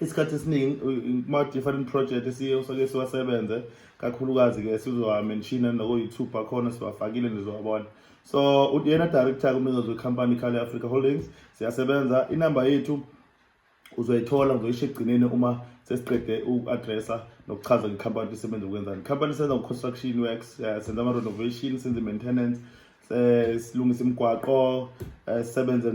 isikhathi esiningi kuma-different project esiye soke siwasebenze kakhulukazi-ke sizowa-menshina nako-youtube bakhona siwafakile nizowabona so uyena director kumnikazi wekhampani ikhale africa holdings siyasebenza inamba yethu uzoyithola ngizoyisho ekugcineni uma sesiqede uku-addressa nokuchaza ngekhampani isebenza ukwenzani ikhampani isenza ngo-construction works eh, senza ama-renovation senze i-maintenance um silungisa imigwaqo um sisebenze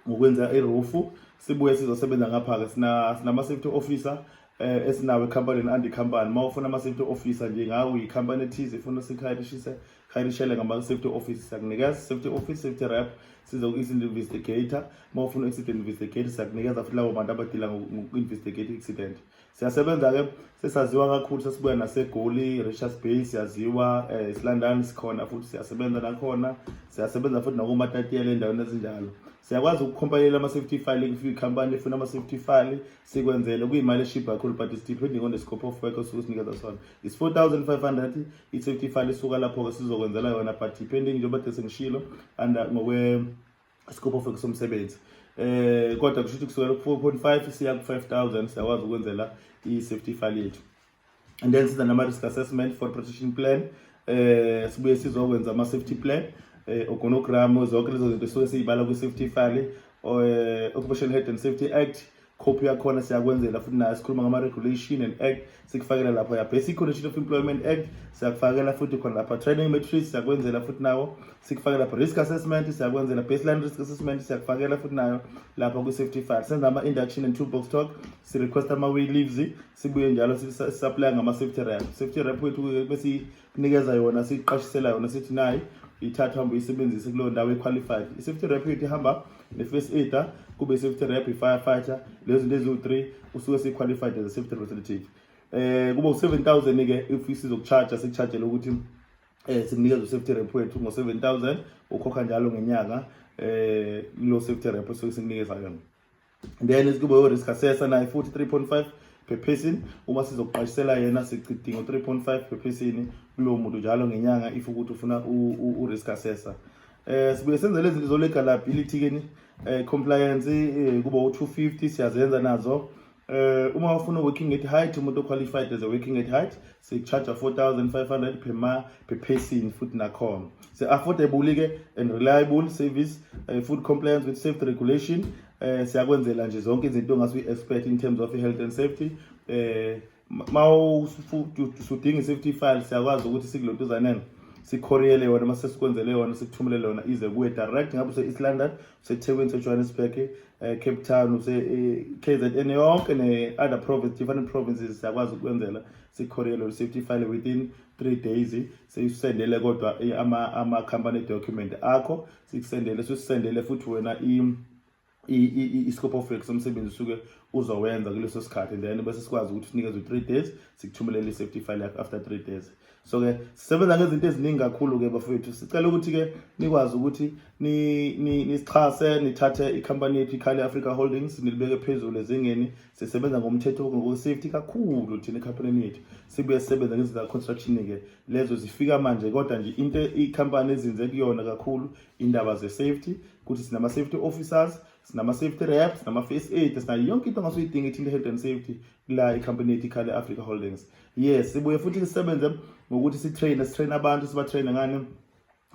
ngokwenza irufu sibuye sizosebenza ngapha-ke sinama-safety officer eh esinawo ekhampanini andi company uma ufuna ama-safety officer nje ngawe uyikhampani ethize ifuna sikhayirishise khayirishele ngama-safety office siyakunikeza safety office safety rep sizoku-accident investigator uma ufuna u-accident investigator siyakunikeza futhi labo bantu abadila ngoku-investigate i-accident siyasebenza-ke sesaziwa kakhulu sesibuya nasegoli richards bay siyaziwa um eh, silandani sikhona futhi siyasebenza nakhona siyasebenza futhi nakomatatiyela endaweni ezinjalo siyakwazi ukukhompalela ama-safety file kufika ikhampani efuna ama-safety file sikwenzele kuyimali eshibha kakhulu but is depending on the scope of work osuke sinikeza sona is 4500 i-safety file isuka lapho-ke sizokwenzela yona but depending njengoba de sengishilo and ngokwe isikopho fake somsebenzi eh kodwa kusho ukuthi kusukela ku-4.5 siya ku-5000 siyakwazi ukwenzela i-safety file yethu and then siza nama-risk assessment for protection plan eh sibuye sizokwenza ama-safety plan eh ogonogram zonke lezo zinto suke siyibala kwi-safety file eh, occupation health and safety act copy yakhona siyakwenzela futhi nayo sikhuluma ngama-regulation and act sikufakela lapho ya basic condition of employment act siyakufakela futhi khona lapha training matrix siyakwenzela futhi nawo sikufakela lapha risk assessment siyakwenzela baseline risk assessment siyakufakela futhi nayo lapha kwi-safety file senza ama-induction and toolbox talk sirequesta ama-way leaves sibuye njalo sisaplaya ngama-safety rap safety rap wethu bese nikeza yona siqashisela yona sithi nayi ithatha hambe uyisebenzise kuleyo ndawo equalified i-safety rep ithi hamba ne-first aider kube i-safety rep i-firefighter lezo zinto eziwu-three usuke siyi-qualified as a safety representative eh kuba u7000 ke if sizokucharge sikucharge lokuthi eh sikunikeza u70 rep wethu ngo7000 ukhokha njalo ngenyanga eh lo safety rep sokusinikeza yona then esikubo yorisk assessor naye futhi 3.5 phephesini uma sizokuqashisela yena sichidinga u-3.5 phephesini kulowo muntu njalo ngenyanga if ukuthi ufuna u-risk assessor eh sibuye senze lezi zinto zolegalability ke ni eh, compliance eh, kuba u250 siyazenza nazo eh uma ufuna working at height umuntu qualified as a working at height sikucharge 4500 per month per person futhi nakhona se affordable ke and reliable service uh, food compliance with safety regulation eh siyakwenzela nje zonke izinto ongase uyi-expect in terms of health and safety eh ma usudinga i-safety file siyakwazi ukuthi sikulotuzaneni sikhoriyele yona uma sesikwenzele yona sikuthumelele yona ize kuwe direct ngabe use-east london usethekwini usejohannesburg um cape town use-k z n yonke ne-other province different provinces siyakwazi ukwenzela sikhorele or safety file within three days siyisendele kodwa ama-company document akho sikusendele sisendele futhi wena i-scope of work somsebenzi usuke uzowenza kuleso sikhathi then bese sikwazi ukuthi sinikeze u-three days sikuthumelele i-safety file yakho after three days so ke sisebenza ngezinto eziningi kakhulu ke bafowethu sicela ukuthi ke nikwazi ukuthi nisixhase nithathe ikhampani yethu ikhale Africa Holdings nilibeke phezulu ezingeni sisebenza ngomthetho ngokusafety kakhulu thina ekhampanini yethu sibuye sisebenza ngezinto za-construction ke lezo zifika manje kodwa nje into ikhampani ezinze kuyona kakhulu indaba ze-safety ukuthi sinama-safety officers sinama-safety reps sinama-face aid sinayo yonke into ongasuyidinga ithinte health and safety la ikhampani yethu ikhale Africa Holdings yes sibuye futhi sisebenze ngokuthi si train si train abantu siba train ngani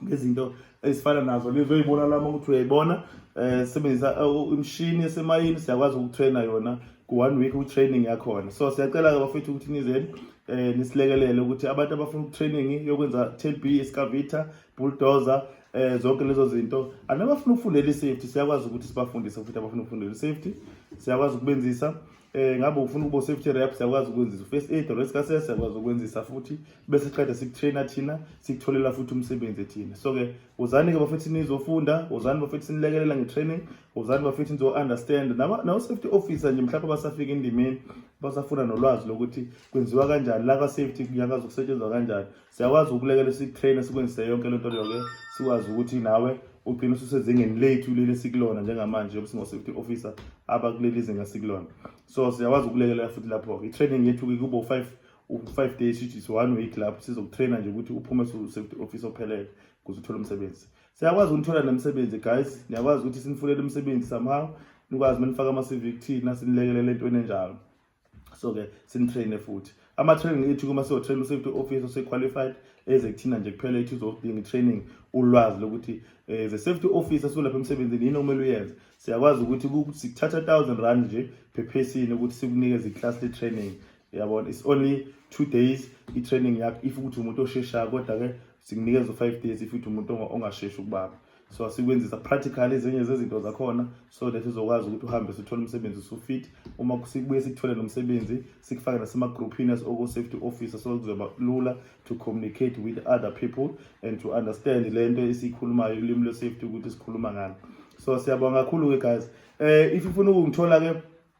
ngezinto ezifana nazo lizoyibona lama ukuthi uyayibona eh sebenzisa eh, imshini esemayini siyakwazi ukutraina yona ku one week u training yakhona so siyacela ke bafethu ukuthi nizeni eh nisilekelele ukuthi abantu abafuna training yokwenza TB escavator bulldozer eh zonke lezo zinto anabafuna ukufundela isafety siyakwazi ukuthi sibafundise futhi abafuna ukufundela isafety siyakwazi ukubenzisa eh ngabe ufuna ukuba safety rep siyakwazi ukwenzisa first aid or risk assess siyakwazi ukwenzisa futhi bese siqeda sikutrainer thina sikutholela futhi umsebenzi ethina so ke uzani ke bafethi nizofunda uzani bafethi sinilekelela ngetraining uzani bafethi nizo understand naba nawo safety officer nje mhlawumbe basafika endimeni basafuna nolwazi lokuthi kwenziwa kanjani la ka safety kuyakazi ukusetshenzwa kanjani siyakwazi ukulekela sikutraine sikwenzise yonke lento leyo ke sikwazi ukuthi nawe ugcine ususezingeni lethu leli sikulona njengamanje yokuthi ngo-safety officer abakuleli zinga sikulona so siyakwazi ukulekelela futhi lapho-ke i-training yethu-ke kuba u-five u-five days which is one week lapho sizokutraina nje ukuthi uphume su-safety office ophelele kuze uthole umsebenzi siyakwazi ukunithola nemisebenzi guys niyakwazi ukuthi sinifunele umsebenzi somehow nikwazi uma nifaka ama-cv kuthina sinilekelele entweni enjalo so ke sinitraine futhi ama-training ethu kuma siyotrain u-safety officer ose-qualified eze kuthina nje kuphela ethu uzodinga i-training ulwazi lokuthi um the safety officer solapha emsebenzini yini okumele uyenze siyakwazi ukuthi sikuthatha thousand rand nje phephesini ukuthi sikunikeze i-class le-training yabona it's only two days i-training yakho if ukuthi umuntu osheshayo kodwa-ke sikunikeza u-five days if ukuthi umuntu ongasheshi ukubaba so asikwenzisa practical ezinye zezinto zakhona so that uzokwazi ukuthi uhambe sithole umsebenzi usufit uma sibuye sikuthole nomsebenzi sikufake nasemagrouphini as oko safety officer so kuzoba lula to communicate with other people and to understand le nto esiyikhulumayo ulimi lwe-safety ukuthi sikhuluma ngani so siyabonga kakhulu-ke guys um if ufuna ukungithola-ke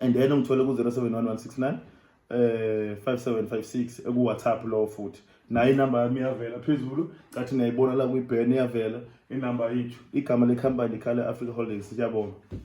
and then ungithole ku-071 eh 5756 eku WhatsApp lo futhi naye inamba yami iyavela phezulu cathi niyayibona la kwi-ban iyavela inamba yethu igama le company Khala Africa Holdings siyabonga